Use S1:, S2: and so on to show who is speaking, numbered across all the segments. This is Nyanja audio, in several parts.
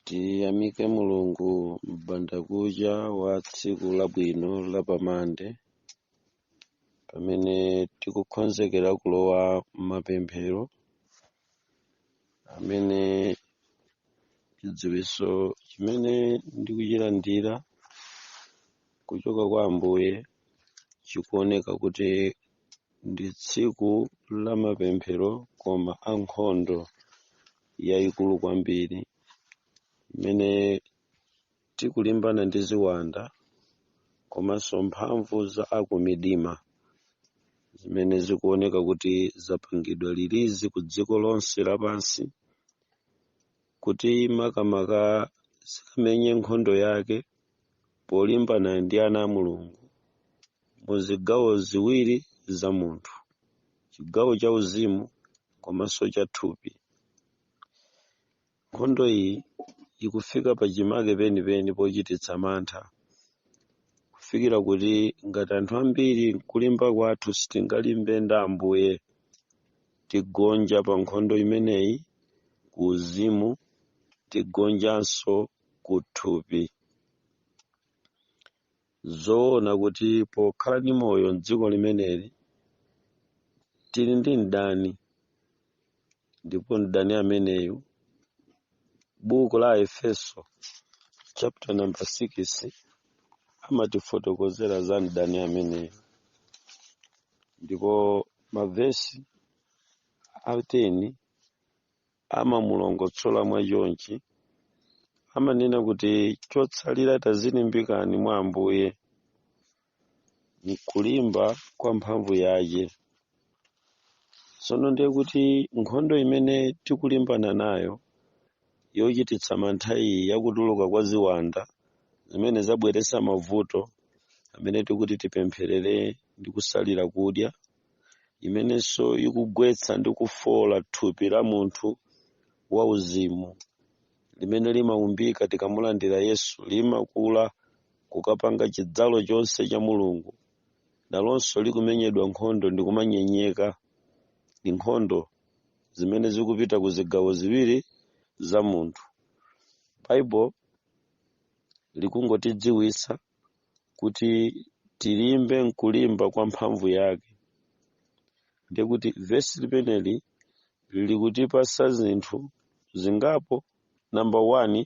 S1: tiyamike mulungu m'bandakucha wa tsiku labwino la pamande pamene tikukonzekera kulowa m'mapemphero amene chidziwitso chimene ndikuchilandira kuchoka kwa ambuye chikuoneka kuti ndi tsiku la mapemphero koma a nkhondo yayikulu kwambiri imene tikulimbana ndi ziwanda komanso mphamvu za akumidima zimene zikuoneka kuti zapangidwa lilizi ku dziko lonse lapansi kuti makamaka zikamenye nkhondo yake polimbana ndi ana a Mulungu mu zigawo ziwiri za munthu, chigawo cha uzimu komanso cha thupi. Nkhondo iyi ikufika pa chimake penipeni pochititsa mantha kufikira kuti ngati anthu ambiri kulimba kwathu sitingalimbe ndi Ambuye tigonja pa nkhondo imeneyi ku uzimu tigonjanso ku thupi zoona kuti pokhala ndi moyo mdziko limeneli tili ndi mdani ndipo mdani ameneyu buku la aefeso chapter number 6 amatifotokozera za mdani ameneyu ndipo mavesi a 10 amamulongosola mwa chonchi amanena kuti chotsalira tadzilimbikani mwa ambuye mkulimba kwa mphamvu yace tsono ndiye kuti nkhondo imene tikulimbana nayo yochititsa mantha iyi ya kutuluka kwa ziwanda zimene zabweretsa mavuto amene tikuti tipempherere ndi kusalira kudya imenenso ikugwetsa ndi kufoola thupi la munthu wauzimu limene limaumbika tikamulandira yesu limakula kukapanga chidzalo chonse cha mulungu nalonso likumenyedwa nkhondo ndi kumanyenyeka ndi nkhondo zimene zikupita ku zigawo ziwiri za munthu bible likungotidziwitsa kuti tilimbe nkulimba kwa mphamvu yake ndiye kuti vesi limeneli likutipatsa zinthu zingapo number one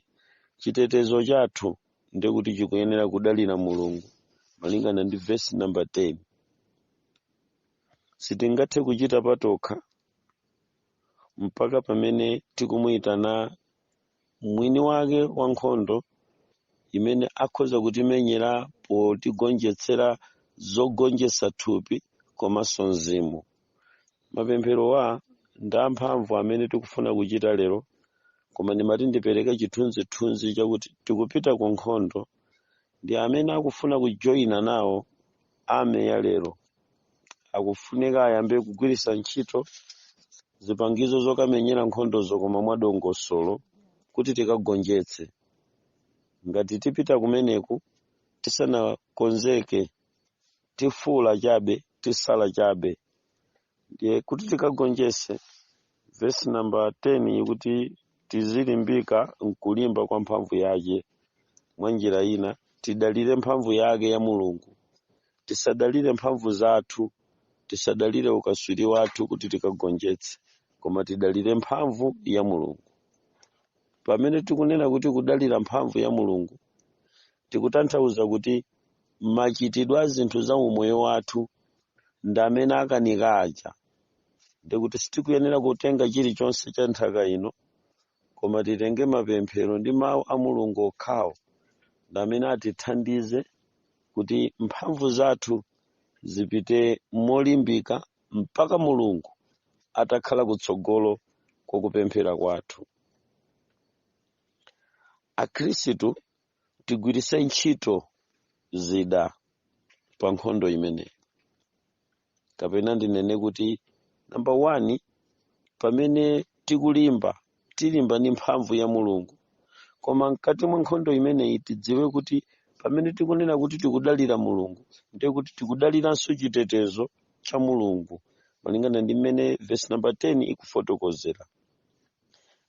S1: chitetezo chathu ndiye kuti chikuyenera kudalira mulungu malingana ndi vesi number 10 sitingathe kuchita patokha mpaka pamene tikumuyitana mwini wake wa nkhondo amene akhoza kutimenyera potigonjetsera zogonjetsa thupi komanso mzimu mapempherowa ndi amphamvu amene tikufuna kuchita lero koma ndimati ndipereke chithunzithunzi chakuti tikupita ku nkhondo ndi amene akufuna kujoyina nawo Army ya lero akufunika ayambe kugwiritsa ntchito zipangizo zokamenyera nkhondozo koma mwadongosolo kuti tikagonjetse. Ngati tipita kumeneku tisanakonzeke tifuula chabe, tisala chabe. ndiye kuti tikagonjetse vesi namba 10 ikuti tizilimbika mkulimba kwa mphamvu yake mwa njira ina tidalire mphamvu yake ya mulungu tisadalire mphamvu zathu tisadalire ukaswiri wathu kuti tikagonjetse koma tidalire mphamvu ya mulungu pamene tikunena kuti kudalira mphamvu ya mulungu Tikutanthauza kuti machitidwe a zinthu za umoyo wathu ndi amene akanika aja, ndiye kuti sitikuyenera kutenga chilichonse cha nthaka ino, koma titenge mapemphero ndi Mawu a Mulungu okhawo ndi amene atithandize kuti mphamvu zathu zipite molimbika mpaka Mulungu atakhala kutsogolo kwa kupemphera kwathu. Akhristu tigwiritse ntchito zida pa nkhondo imeneyi kapena ndinene kuti namba 1 pamene tikulimba tilimba ndi mphamvu ya mulungu koma mkati mwa nkhondo imeneyi tidziwe kuti pamene tikunena kuti tikudalira mulungu ndiye kuti tikudaliranso chitetezo cha mulungu malingana ndi mmene vesi namba 10 ikufotokozera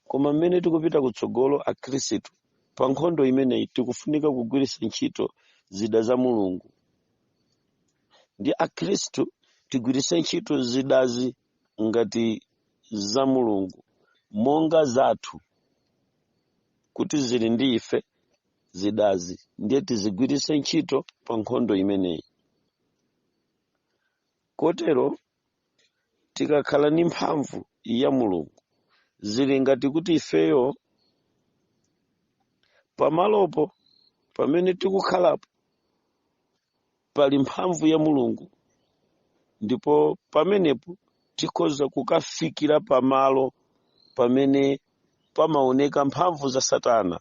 S1: Koma mmene tikupita kutsogolo Akhristu pa nkhondo imeneyi tikufunika kugwiritsa ntchito zida za Mulungu. Ndiye Akhristu tigwiritse ntchito zidazi ngati za Mulungu monga zathu kuti zili ndi ife zidazi ndiye tizigwiritse ntchito pa nkhondo imeneyi. Kotero tikakhala ndi mphamvu ya mulungu zili ngati kuti ifeyo pamalopo pamene tikukhalapo pali mphamvu ya mulungu ndipo pamenepo tikhoza kukafikira pamalo pamene pamaoneka mphamvu za satana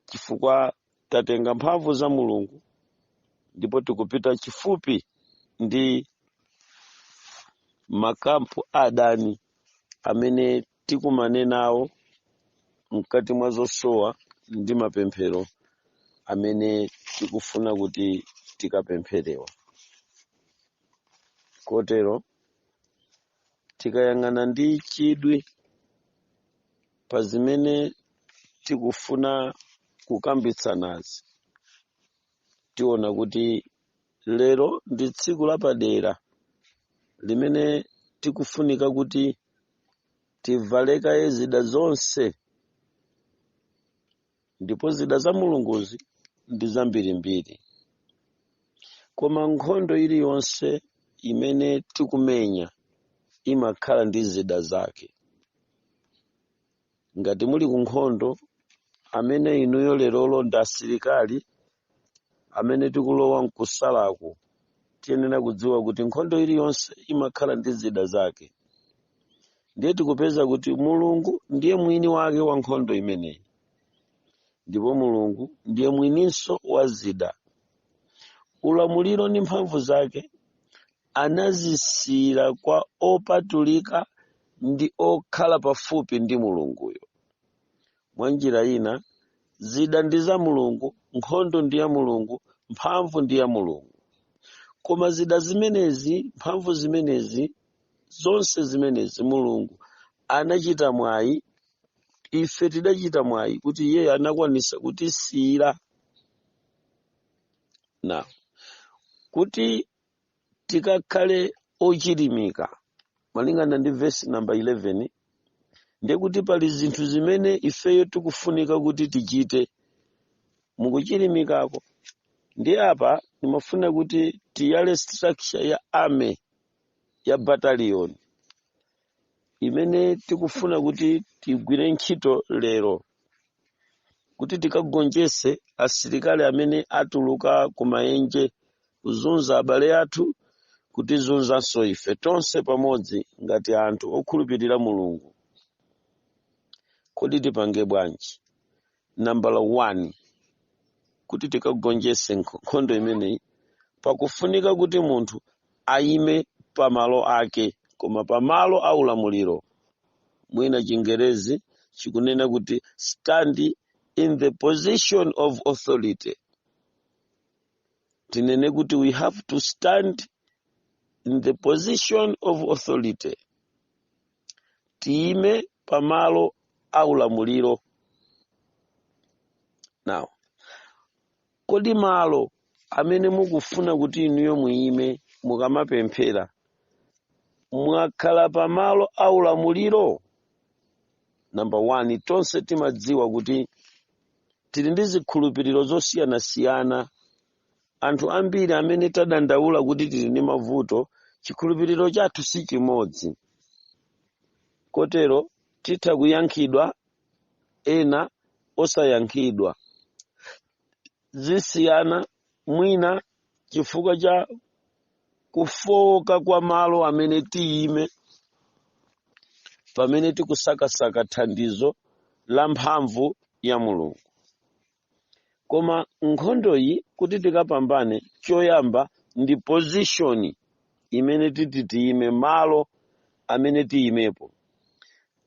S1: chifukwa tatenga mphamvu za mulungu ndipo tikupita chifupi ndi makampu a adani amene tikumane nawo mkati mwa zosowa ndi mapemphero amene tikufuna kuti tikapempherewe kotero tikayang'ana ndi chidwi pa zimene tikufuna kukambitsanazi tiona kuti lero ndi tsiku lapadera limene tikufunika kuti tivale kaye zida zonse ndipo zida za mulunguzi ndi zambirimbiri koma nkhondo iliyonse imene tikumenya imakhala ndi zida zake ngati muli ku nkhondo amene inuyo lerolo ndi asilikali amene tikulowa mkusalaku tiyenera kudziwa kuti nkhondo iliyonse imakhala ndi zida zake ndiye tikupeza kuti mulungu ndiye mwini wake wa nkhondo imeneyi ndipo mulungu ndiye mwininso wa zida ulamuliro ndi mphamvu zake anazisiyira kwa opatulika ndi okhala pafupi ndi mulunguyo mwa njira ina zida ndi za mulungu nkhondo ndi ya mulungu mphamvu ndi ya mulungu koma zida zimenezi mphamvu zimenezi zonse zimenezi mulungu anachita mwayi ife tidachita mwayi kuti iye anakwanisa kutisiyira na kuti tikakhale ochilimika malingana ndi vesi namba 11 ndiye kuti pali zinthu zimene ifeyo tikufunika kuti tichite mukuchilimikako ndi apa ndimafuna kuti tiyale structure ya army ya battalion imene tikufuna kuti tigwire ntchito lero kuti tikagonjetse asilikali amene atuluka ku maenje kuzunza abale athu kutizunzanso ife tonse pamodzi ngati anthu okhulupirira mulungu kodi tipange bwanji namba 1 kuti tikagonjetse nkhondo imeneyi pakufunika kuti munthu ayime pamalo ake koma pamalo a ulamuliro mwina chingerezi chikunena kuti stand in the position of authority tinene kuti we have to stand in the position of authority tiyime pamalo a ulamuliro now kodi malo amene mukufuna kuti inuyo muyime mukamapemphera mwakhala pamalo a ulamuliro namba 1 tonse timadziwa kuti tili ndi zikhulupiriro zosiyanasiyana Anthu ambiri amene tadandaula kuti tili ndi mavuto, chikhulupiriro chathu si chimodzi. Kotero titha kuyankhidwa ena osayankhidwa. Zisiyana mwina chifukwa cha kufooka kwa malo amene tiyime pamene tikusakasaka thandizo la mphamvu ya Mulungu. koma nkhondoyi kuti tikapambane choyamba ndi position imene titi tiyime malo amene tiyimepo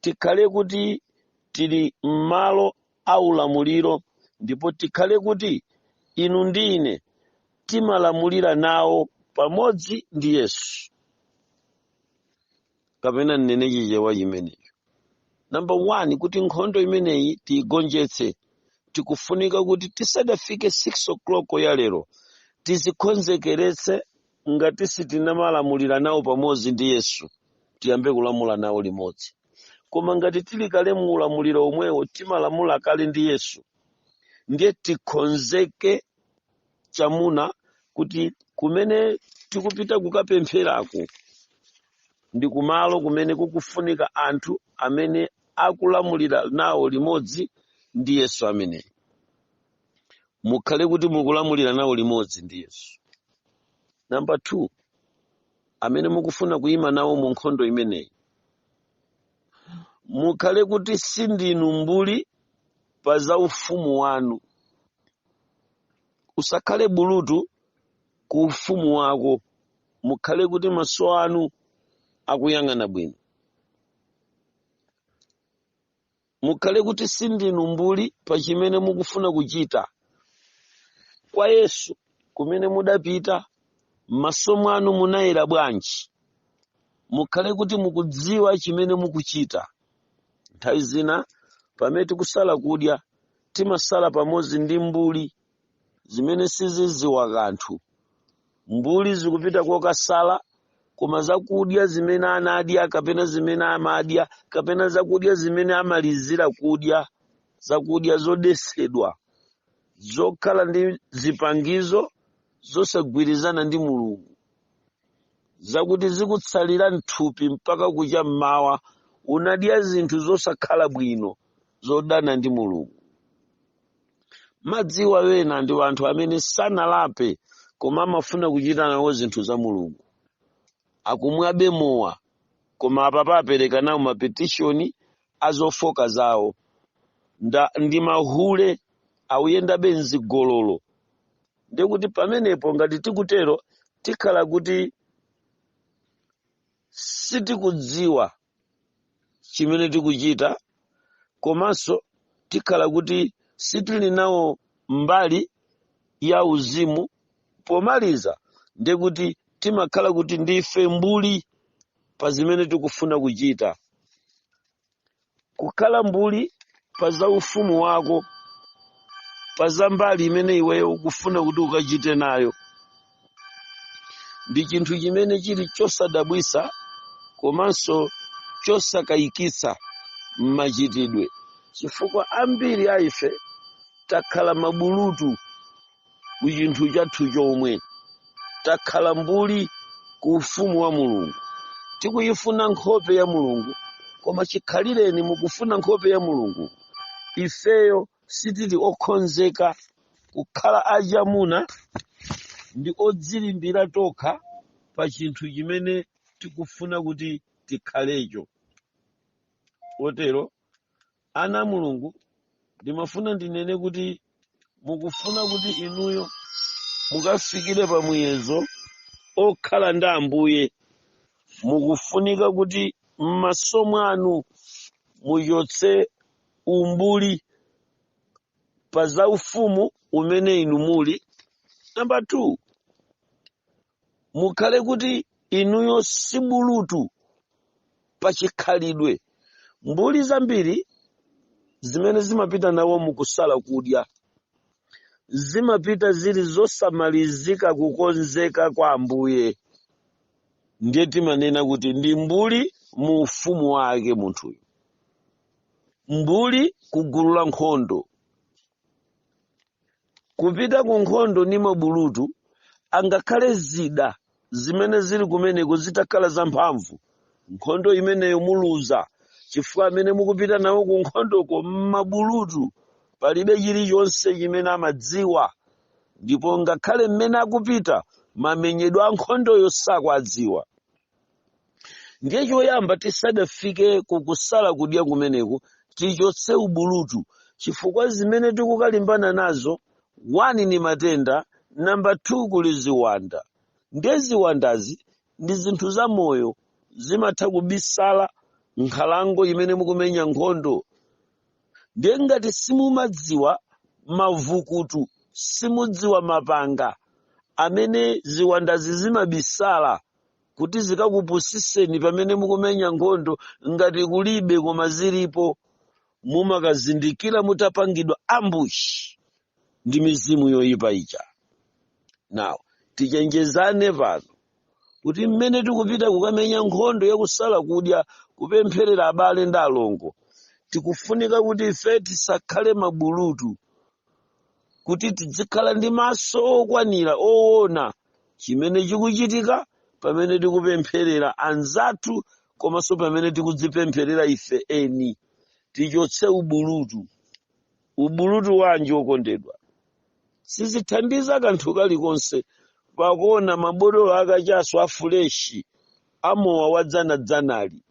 S1: tikhale kuti tili m'malo a ulamuliro ndipo tikhale kuti inu ndi ine timalamulira nawo pamodzi ndi yesu kapena nnene chichewa chimenecho namba one kuti nkhondo imeneyi tiigonjetse tikufunika kuti tisadafike 6 o'clock ya lero tidzikonzekeretse ngati sitinamalamulira nawo pamodzi ndi yesu tiyambe kulamula nawo limodzi koma ngati tili kale mu ulamuliro omwewo timalamula kale ndi yesu ndiye tikonzeke chamuna kuti kumene tikupita kukapempherako ndi kumalo kumene kukufunika anthu amene akulamulira nawo limodzi ndi yesu ameneyu mukhale kuti mukulamulira nawo limodzi ndi yesu namba 2 amene mukufuna kuyima nawo mu nkhondo imeneyi mukhale kuti sindinu mbuli pa za ufumu wanu usakhale bulutu ku ufumu wako mukhale kuti maso anu akuyang'ana bwino mukhale kuti sindinu mbuli pa chimene mukufuna kuchita kwa yesu kumene mudapita m'maso mwanu munayera bwanji mukhale kuti mukudziwa chimene mukuchita nthawi zina pamene tikusala kudya Timasala pamodzi ndi mbuli zimene sizidziwa kanthu. Mbuli zikupita kokasala, koma zakudya zimene anadya kapena zimene amadya kapena zakudya zimene amalizira kudya, zakudya zodetsedwa, zokhala ndi zipangizo zosagwirizana ndi Mulungu, zakuti zikutsalira m'thupi mpaka kucha m'mawa unadya zinthu zosakhala bwino. zodana ndi mulungu madziwa ena ndi anthu amene sanalape koma amafuna kuchita nawo zinthu za mulungu akumwabe mowa koma apapa apereka nawo mapetishoni azofoka zawo ndi mahule akuyendabe mzigololo ndikuti pamenepo ngati tikutero tikhala kuti sitikudziwa chimene tikuchita komanso tikhala kuti sitili nawo mbali ya uzimu pomaliza ndiye kuti timakhala kuti ndife mbuli pa zimene tikufuna kuchita kukhala mbuli pa za ufumu wako pa za mbali imene iweyo ukufuna kuti ukachite nayo ndi chinthu chimene chili chosadabwisa komanso chosakayikitsa m'machitidwe chifukwa ambiri a ife takhala mabulutu ku chinthu chathu chomwe takhala mbuli ku ufumu wa mulungu tikuyifuna nkhope ya mulungu koma chikhalireni mukufuna nkhope ya mulungu ifeyo sitili okhonzeka kukhala achamuna ndi odzilimbira tokha pa chinthu chimene tikufuna kuti tikhalecho potero ana a mulungu ndimafuna ndinene kuti mukufuna kuti inuyo mukafikire pa muyezo okhala ndi ambuye mukufunika kuti m'maso mwanu muchotse umbuli pa za ufumu umene inu muli number 2 mukhale kuti inuyo si bulutu pa chikhalidwe mbuli zambiri zimene zimapita nawo mukusala kudya zimapita zili zosamalizika kukonzeka kwa ambuye ndiye timanena kuti ndi mbuli mu ufumu wake munthuyu mbuli ku gulu la nkhondo kupita ku nkhondo ndi mabulutu angakhale zida zimene zili kumeneko zitakhala zamphamvu nkhondo imeneyo muluza chifukwa amene mukupita nawo ku nkhondoko mmabulutu palibe chilichonse chimene amadziwa ndipo ngakhale mmene akupita mamenyedwe a nkhondoyo sakwadziwa ndiye choyamba tisadafike kukusala kudya kumeneku tichotse ubulutu chifukwa zimene tikukalimbana nazo wani ni matenda namba 2 kuli ziwanda ndiye ziwandazi ndi zinthu za moyo zimatha kubisala nkhalango imene mukumenya nkhondo ndiye ngati simumadziwa mavukutu simudziwa mapanga amene ziwandazi zimabisala kuti zikakupusiseni pamene mukumenya nkhondo ngati kulibe koma zilipo mumakazindikira mutapangidwa ambush ndi mizimu yoyipa ija now tichenjezane pano kuti mmene tikupita kukamenya nkhondo yakusala kudya kupempherera abale ndi alongo tikufunika kuti ife tisakhale mabulutu kuti tidzikhala ndi maso okwanira owona chimene chikuchitika pamene tikupempherera anzathu komanso pamene tikudzipempherera ife eni tichotse ubulutu ubulutu wanji okondedwa sizithandiza kanthu kalikonse pakuona mabotolo akachaso afuleshi amowa wadzanadzanali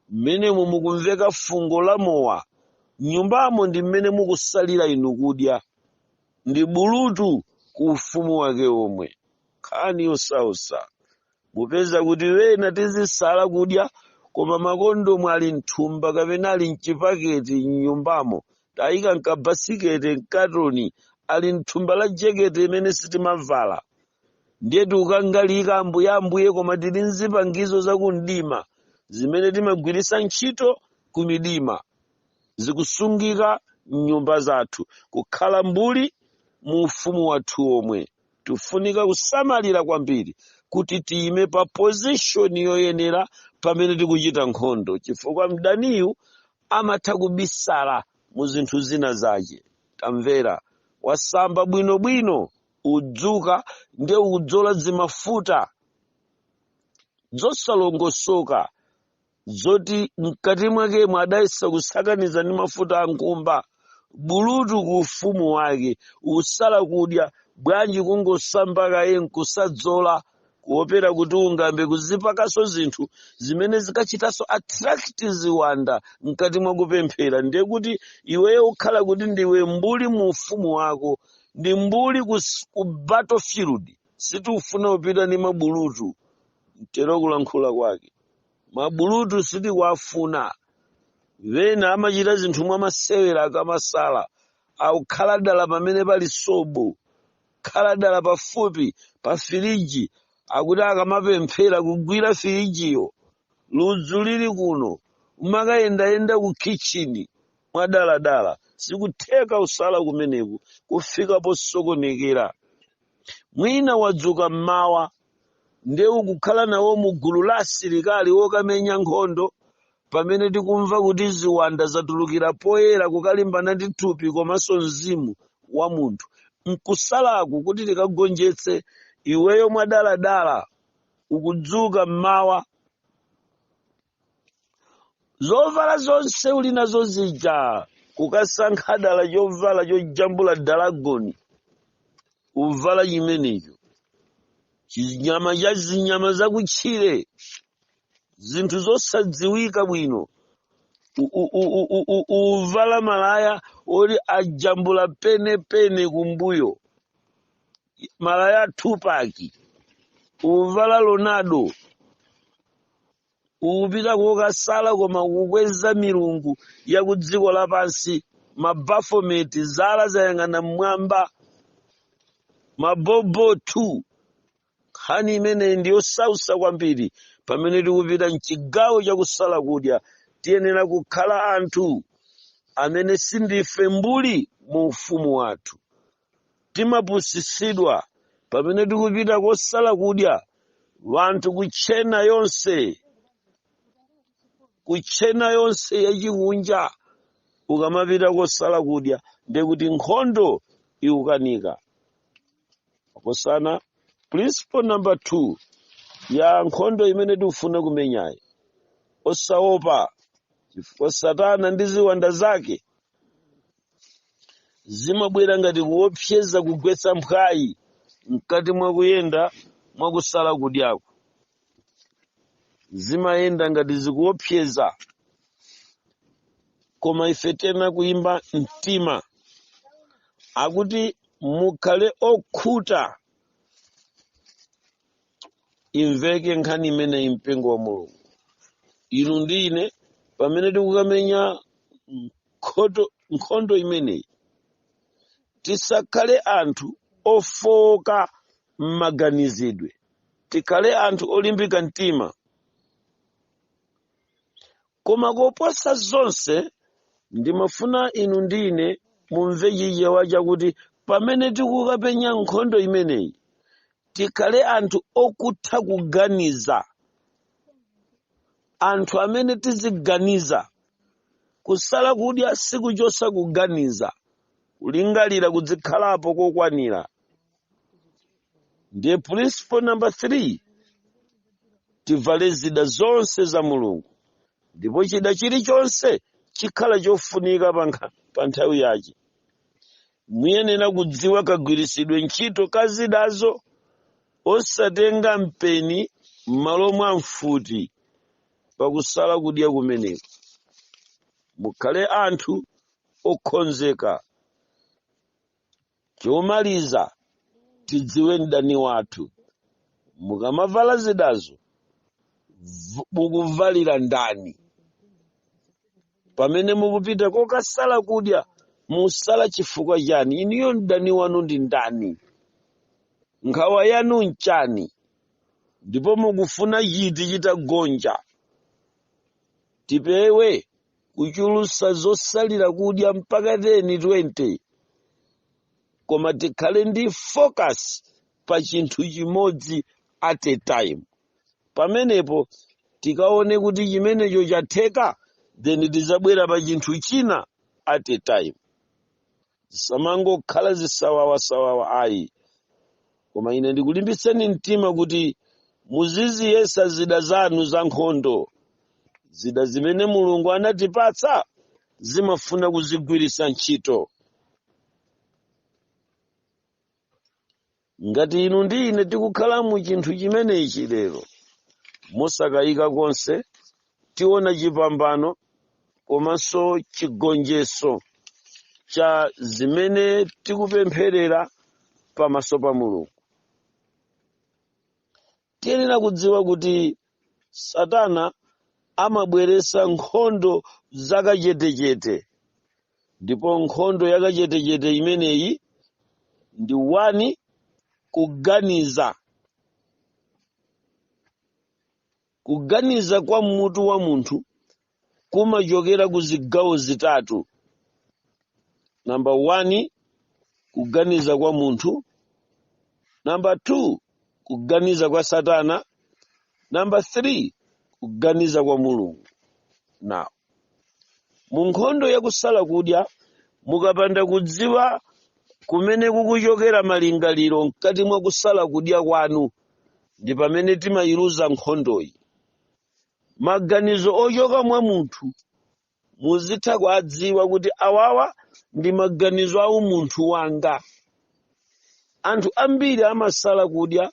S1: Mmenemo mukumveka fungo la mowa. M'nyumbamo ndi mmene mukusalira inu kudya. Ndi ubulutu ku ufumu wake womwe. Nkhani yosausa. Mupeza kuti ena tizisala kudya koma makondomu ali m'thumba kapena ali m'chipaketi m'nyumbamo. Tayika m'kabasikete, m'katoni, ali m'thumba la jekete imene sitimavala. ndiye tikukangalika ambuye ambuye koma tili nzipangizo zakumdima zimene timagwiritsa ntchito kumidima zikusungika mnyumba zathu kukhala mbuli mu ufumu wathu omwe tifunika kusamalira kwambiri kuti tiyime pa position yoyenera pamene tikuchita nkhondo chifukwa mdaniyu amatha kubisala mu zinthu zina zace tamvera wasamba bwinobwino udzuka nde udzola zimafuta zosalongosoka zoti mkati mwakemo adayesa kusakaniza ndi mafuta a nkhumba bulutu ku ufumu wake usala kudya bwanji kungosamba kaye nkusadzola kuopera kuti ungambe kuzipakaso zinthu zimene zikachitaso attract ziwanda mkati mwa kupemphera ndiye kuti iweyo ukhala kuti ndiwe mbuli mu ufumu wako ndi mbuli kus- ku battlefield sitikufuna kupita ndi mabulutu mtero kulankhula kwake mabulutu sitikuwafuna wena amachita zinthu mwa masewera akamasala akukhala dala pamene pali sobo khala dala pafupi pa firiji akuti akamapemphera kugwira firijiyo ludzu lili kuno umakayendayenda ku kitchen mwadaladala sikutheka usala kumeneku kufika posokonekera mwina wadzuka mmawa nde ukukhala nawo mu gulu la asilikali okamenya nkhondo Pamene tikumva kuti ziwanda zatulukira poyera kukalimbana ndi thupi komanso mzimu wa munthu, m'kusalaku kuti tikagonjetse, iweyo mwadaladala ukudzuka m'mawa, zovala zonse uli nazo zija, kukasankha dala chovala chojambula dalagoni, uvala chimenecho, chinyama cha zinyama zakutchire, zinthu zosadziwika bwino uvala malaya oti ajambula penepene kumbuyo malaya a tupac uvala ronaldo ukupita kokasala koma kukweza milungu ya ku dziko lapansi mabafometi zala zayang'ana mmwamba mabobotu nkhani imeneyi ndi yosausa kwambiri pamene tikupita mchigawo chakusala kudya tiyenera kukhala anthu amene sindife mbuli mu ufumu wathu timapusisidwa pamene tikupita kosala kudya wanthu kutchena yonse kutchena yonse yachikunja ukamapita kosala kudya ndekuti nkhondo ikukanika makosana principle number two ya nkhondo imene tikufuna kumenyayi osaopa chifukwa satana ndi ziwanda zake zimabwera ngati kuopseza kugwetsa mphwayi mkati mwa kuyenda mwa kusala kudyako zimayenda ngati zikuopseza koma ife tena kulimba mtima akuti mukhale okhuta imveke nkhani imeneyi mpingo wa mulungu inu ndi ine pamene tikukamenya nkhondo imeneyi tisakhale anthu ofowoka m'maganizidwe tikhale anthu olimbika mtima koma koposa zonse ndimafuna inu ndi ine mumve chichewa chakuti pamene tikukapenya nkhondo imeneyi tikhale anthu okutha kuganiza anthu amene tiziganiza kusala kudya sikuchosa kuganiza kulingalira kudzikhalapo kokwanira ndiye principle number 3 tivale zida zonse za mulungu ndipo chida chilichonse chikhala chofunika pa nthawi yake muyenera kudziwa kagwiritsidwe ntchito ka zidazo osatenga mpeni m'malo mwa mfuti pakusala kudya kumeneko mukhale anthu okhonzeka Chomaliza, tidziwe mdani wathu. Mukamavala zidazo, mukuvalira ndani? Pamene mukupita kokasala kudya, musala chifukwa chani? Inuyo mdani wanu ndi ndani? Nkhawa yanu nchani? Ndipo mukufuna chiti chitagonja? Tipewe kuchulusa zosalira kudya mpaka 10 20 koma tikhale ndi focus pa chinthu chimodzi at a time pamenepo tikaone kuti chimenecho chatheka then tizabwera pa chinthu china at a time zisamangokhala zisawawasawawa ayi koma ine ndikulimbitseni mtima kuti muziziyesa zida zanu za nkhondo zida zimene mulungu anatipatsa zimafuna kuzigwiritsa ntchito ngati inu ndi ine tikukhala mu chinthu chimenechi lero mosakayika konse tiona chipambano komanso chigonjetso cha zimene tikupempherera pamaso pa mulungu Tiyenera kudziwa kuti Satana amabweretsa nkhondo zakachetechete, ndipo nkhondo yakachetechete imeneyi ndi 1 kuganiza. Kuganiza kwa m'mutu wa munthu kumachokera ku zigawo zitatu namba 1 kuganiza kwa munthu namba 2 kuganiza kwa satana namba 3 kuganiza kwa mulungu now mu nkhondo yakusala kudya mukapanda kudziwa kumene kukuchokera malingaliro mkati mwa kusala kudya kwanu ndi pamene timayiluza nkhondoyi maganizo ochoka mwa munthu muzitha kuadziwa kuti awawa ndi maganizo a umunthu wanga anthu ambiri amasala kudya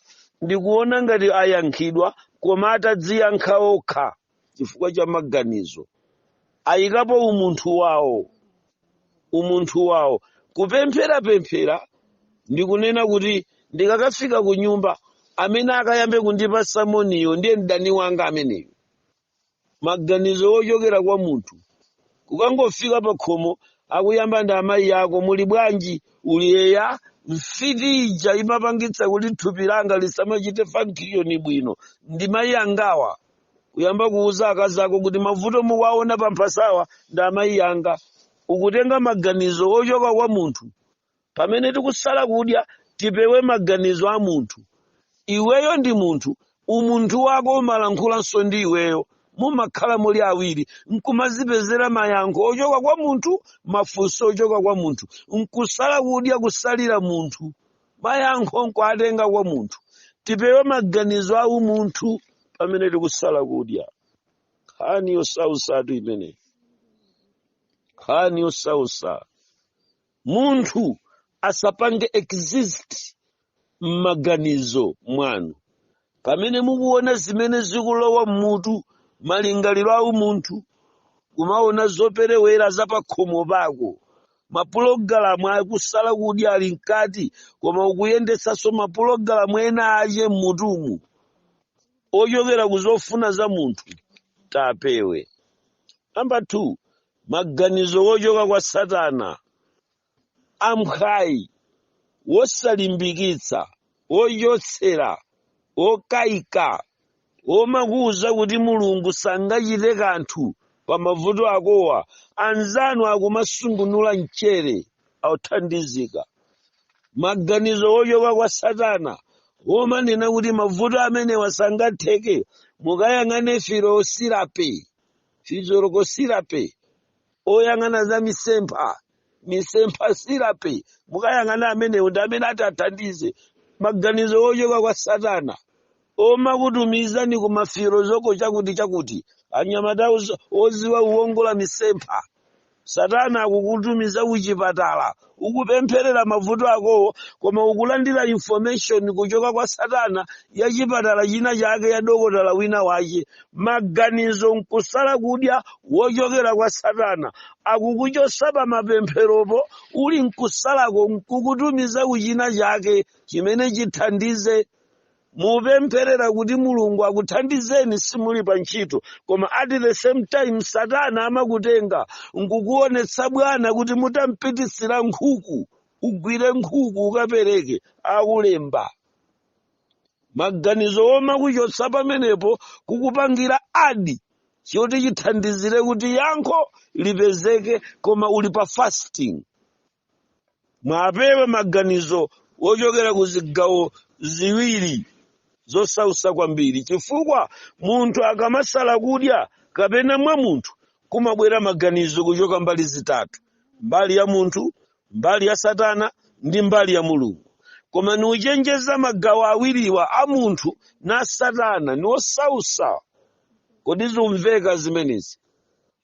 S1: ndi kuona ngati ayankhidwa koma atadziyankha okha chifukwa cha maganizo ayikapo umunthu wawo umunthu wawo kupempherapemphera ndikunena kuti ndikakafika ku nyumba amene akayambe kundipasa moniyo ndiye mdani wanga ameneyo maganizo ochokera kwa munthu kukangofika pa khomo akuyamba ndi amayi ako muli bwanji uli eya mfiti ija imapangitsa kuti thupi langa lisamachite function bwino ndi mayi angawa kuyamba kuuza akazi ako kuti mavuto mukuwaona pa mphasawa ndi amayi anga ukutenga maganizo ochoka kwa munthu pamene tikusala kudya tipewe maganizo a munthu iweyo ndi munthu umunthu wako umalankhulanso ndi iweyo mumakhala muli awiri nkumazipezera mayankho ochoka kwa munthu mafunso ochoka kwa munthu nkusala kudya kusalira munthu mayankho nkuatenga kwa munthu tipewe maganizo a umunthu pamene tikusala kudya nkhani yosausatu imeneyi nkhani yosausa munthu asapange exist m'maganizo mwanu pamene mukuona zimene zikulowa m'mutu malingaliro a umunthu kumaona zoperewera za pakhomo pako mapulogalamu akusala kudya ali mkati koma ukuyendetsanso mapulogalamu ena ache m'mutumu ochokera ku zofuna za munthu tipewe namba 2 maganizo ochoka kwa satana amphwayi, wosalimbikitsa, wochotsera, wokaika, womakuuza kuti Mulungu sangachite kanthu pa mavuto akowa, anzanu akumasungunula mchere, athandizika, maganizo wochoka kwa Satana, womanena kuti mavuto amenewa sangatheke, mukayang'ane firosirape, physiological therapy, oyang'ana za misempha misempha therapy mukayang'ana amenewo ndi amene atathandize maganizo ochoka kwa satana omakutumizani ku mafirozoko chakuti chakuti anyamata oz- oziwa kuwongola misempha satana akukutumiza kuchipatala ukupempherera mavuto akowo koma ukulandira information kuchoka kwa satana ya chipatala china chake ya dokotala wina wache maganizo nkusala kudya wochokera kwa satana akukuchosa pa mapempheropo uli nkusalako nkukutumiza ku china chake chimene chithandize mupempherera kuti mulungu akuthandizeni simuli pa ntchito koma at the same time satana amakutenga nkukuonetsa bwana kuti mutampititsira nkhuku ugwire nkhuku ukapereke akulemba maganizo omakuchotsa pamenepo kukupangira add choti chithandizire kuti yankho lipezeke koma uli pa fasting mwapewa maganizo wochokera ku zigawo ziwiri zosausa kwambiri chifukwa munthu akamasala kudya kapena mwa munthu kumabwera maganizo kuchoka mbali zitatu mbali ya munthu mbali ya satana ndi mbali ya mulungu koma nikuchenjeza magawo awiriwa a munthu na satana ni osausa kodi zimveka zimenezi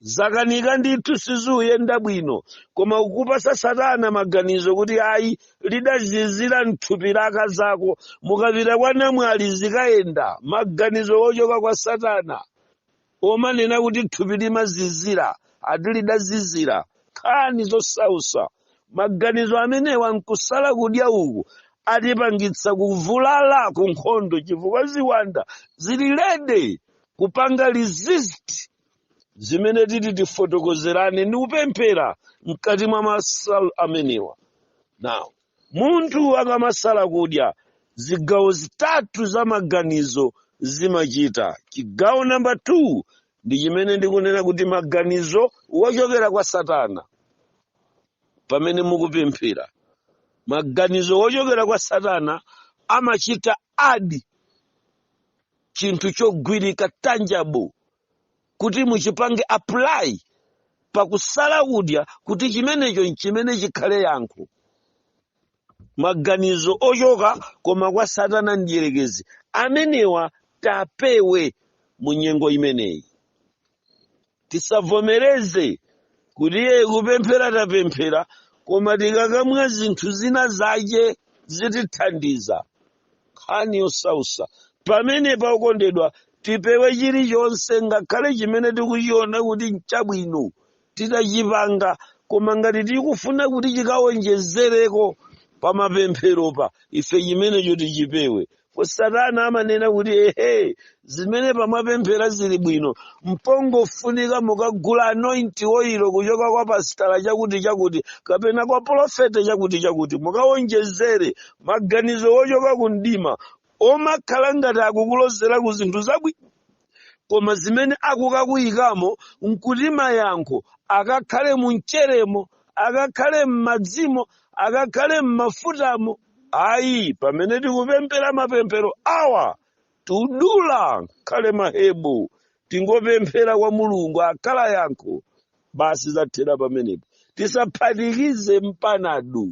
S1: zakanika ndithu sizikuyenda bwino koma ukupasa satana maganizo kuti ayi lidazizira mthupi la akazako mukapita kwa namwali zikayenda maganizo ochoka kwa satana omanena kuti thupi limazizira ati lidazizira nkhani zosausa maganizo amenewa nkusala kudya uku atipangitsa kuvulala ku nkhondo chifukwa ziwanda zili ready kupanga resist zimene titi tifotokozerane ndi kupemphera mkati mwa masala amenewa now munthu akamasala kudya zigawo zitatu za maganizo zimachita chigawo namba 2 ndi chimene ndikunena kuti maganizo wochokera kwa satana pamene mukupemphera maganizo wochokera kwa satana amachita add chinthu chogwirika tangible kuti muchipange apply pakusala kudya kuti chimenecho nchimene chikhale yankho maganizo ochoka koma kwa satana mdierekezi amenewa tapewe mu nyengo imeneyi Tisavomereze kuti iye kupemphera tapemphera koma tikakamwa zinthu zina zache zitithandiza. Nkhani yosausa. Pamenepa okondedwa, tipewe chilichonse ngakhale chimene tikuchiona kuti nchabwino titachipanga koma ngati tikufuna kuti chikaonjezereko pa mapempheropa ife chimenecho tichipewe. satana amanena kuti ehe zimene apa mwapemphera zili bwino mpongofunika mukagula anointing oil kuchoka kwa pasitala chakuti chakuti kapena kwa polofete chakuti chakuti mukawonjezere maganizo ochoka ku mdima omakhala ngati akukulozera ku zinthu zabwino koma zimene akukakuyikamo nkuti mayankho akakhale mu mcheremo akakhale m'madzimo akakhale m'mafutamo ayi pamene tikupemphera mapemphero awa tudula ngakhale ma herbal tingopemphera kwa mulungu akhala yankho basi zathera pamenepo tisaphatikize mpanado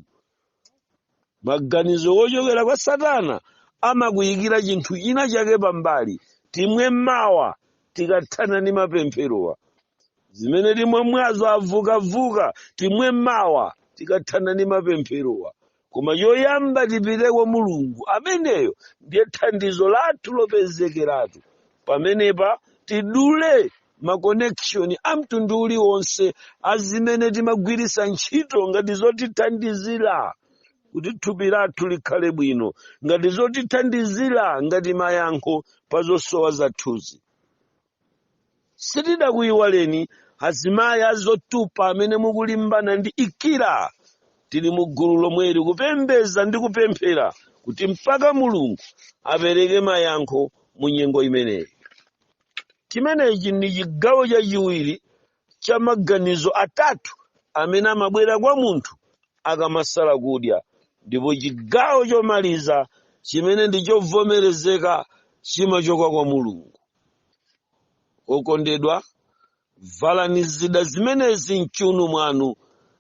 S1: maganizo wochokera kwa satana amakuyikira chinthu china chake pambali timwe mawa tikathana ndi mapempherowa zimene timamwazo a vukavuka timwe mawa tikathana ndi mapempherowa koma choyamba tipite kwa mulungu ameneyo ndiye thandizo lathu lopezekeratu pamenepa tidule ma connection a mtundu uliwonse a zimene timagwiritsa ntchito ngati zotithandizira kuti thupi lathu likhale bwino ngati zotithandizira ngati mayankho pa zosowa zathuzi sitidakuyiwaleni azimayi azotupa amene mukulimbana ndi ikira tili mu gulu lomweli kupembeza ndi kupemphera kuti mpaka mulungu apereke mayankho mu nyengo imeneyi chimenechi ndi chigawo chachiwiri cha maganizo atatu amene amabwera kwa munthu akamasala kudya ndipo chigawo chomaliza chimene ndi chovomerezeka chimachoka kwa mulungu okondedwa Valani zida zimenezi m'chiuno mwanu,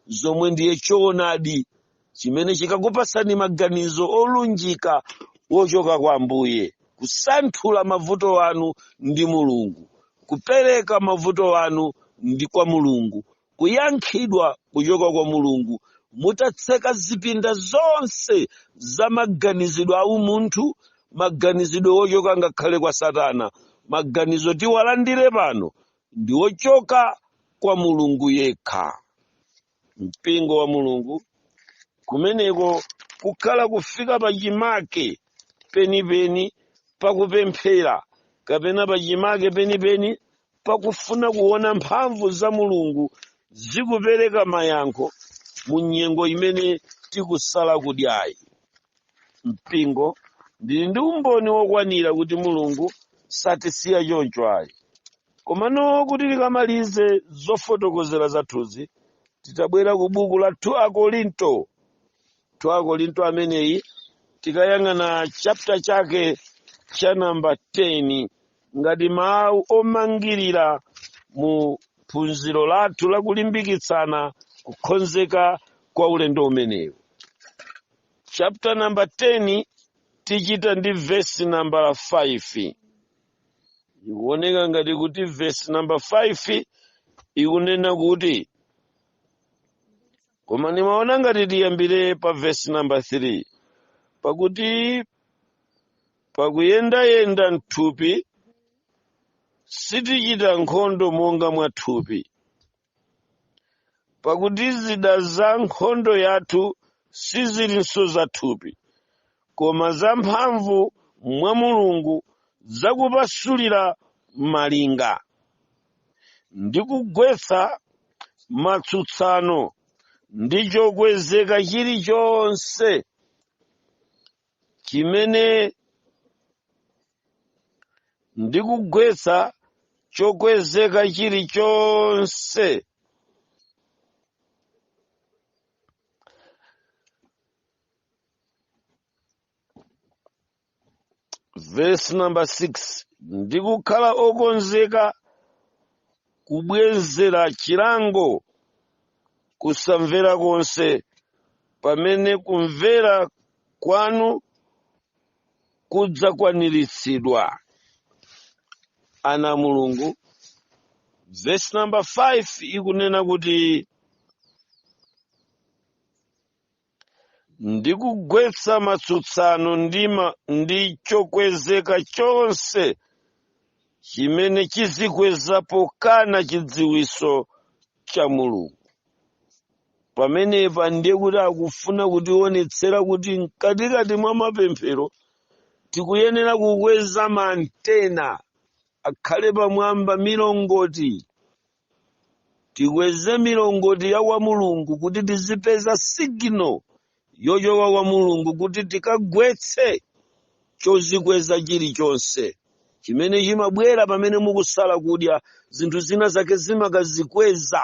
S1: zomwe ndiye choonadi chimene chikakupatsani maganizo olunjika wochoka kwa Ambuye, kusanthula mavuto anu ndi Mulungu, kupereka mavuto anu ndi kwa Mulungu, kuyankhidwa kuchoka kwa Mulungu, mutatseka zipinda zonse za maganizidwe aumunthu, maganizidwe ochoka ngakhale kwa satana maganizo tiwalandire pano ndi ochoka kwa mulungu yekha mpingo wa mulungu kumeneko kukhala kufika pa chimake penipeni pakupemphera kapena pa chimake penipeni pakufuna kuona mphamvu za mulungu zikupereka mayankho mu nyengo imene tikusala kudyayi mpingo ndili ndi umboni wokwanira kuti mulungu satisiya choncho ayi komano kuti tikamalize zofotokozera zathuzi titabwera ku buku la 2 akorinto 2 akorinto ameneyi tikayang'ana chapter chake cha namba 10 ngati mawu omangirira mu phunziro lathu la kulimbikitsana kukonzeka kwa ulendo umenewu chapter number 10 tichita ndi vesi nambala 5 ikuoneka ngati kuti vesi namba 5 ikunena kuti koma nimaona ngati tiyambire pa vesi namba 3 pakuti pakuyendayenda m'thupi sitichita nkhondo monga mwa thupi pakuti zida za nkhondo yathu sizilinso za thupi koma zamphamvu mwa mulungu zakupasulira malinga ndi kugwetsa matsutsano ndi chokwezeka chilichonse chimene ndikugwetsa chokwezeka chilichonse verse number 6 ndikukhala okonzeka kubwezera chilango kusamvera konse pamene kumvera kwanu kudzakwaniritsidwa ana a mulungu vesi namba 5 ikunena kuti ndi kugwetsa matsutsano ndi chokwezeka chonse chimene chizikweza pokana chidziwitso cha mulungu pamenepa ndiye kuti akufuna kutionetsera kuti mkatikati mwa mapemphero tikuyenera kukweza maantena akhale pamwamba milongoti tikweze milongoti ya kwa mulungu kuti tizipeza signal yochoka kwa mulungu kuti tikagwetse chozikweza chilichonse chimene chimabwera pamene mukusala kudya zinthu zina zake zimakazikweza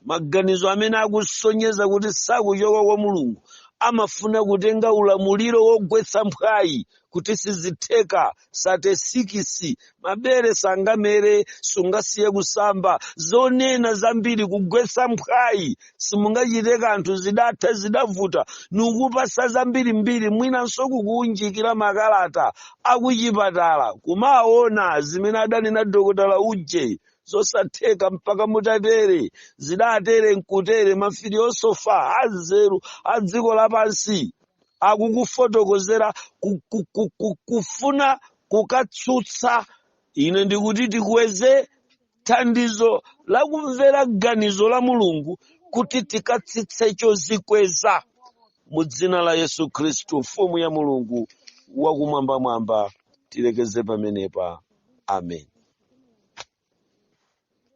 S1: maganizo amene akusonyeza kuti sakuchoka kwa mulungu amafuna kutenga ulamuliro wogwetsa mphwayi kuti sizitheka sate sikisi mabere sangamere sungasiye kusamba zonena zambiri kugwetsa mphwayi simungachite kanthu zidatha zidavuta nkukupatsa zambirimbiri mwinanso kukuunjikira makalata akuchipatala kumaona zimene adanena dokotala uje zosatheka mpaka mutatere zidatere nkutere mafiliyosofa anzeru a dziko lapansi akukufotokozera kufuna kukutsutsa ine ndikuti tikweze thandizo la kumvera ganizo la mulungu kuti tikatsitse chozikweza mu dzina la yesu khristu mfumu ya mulungu wakumwambamwamba tilekeze pamenepa amen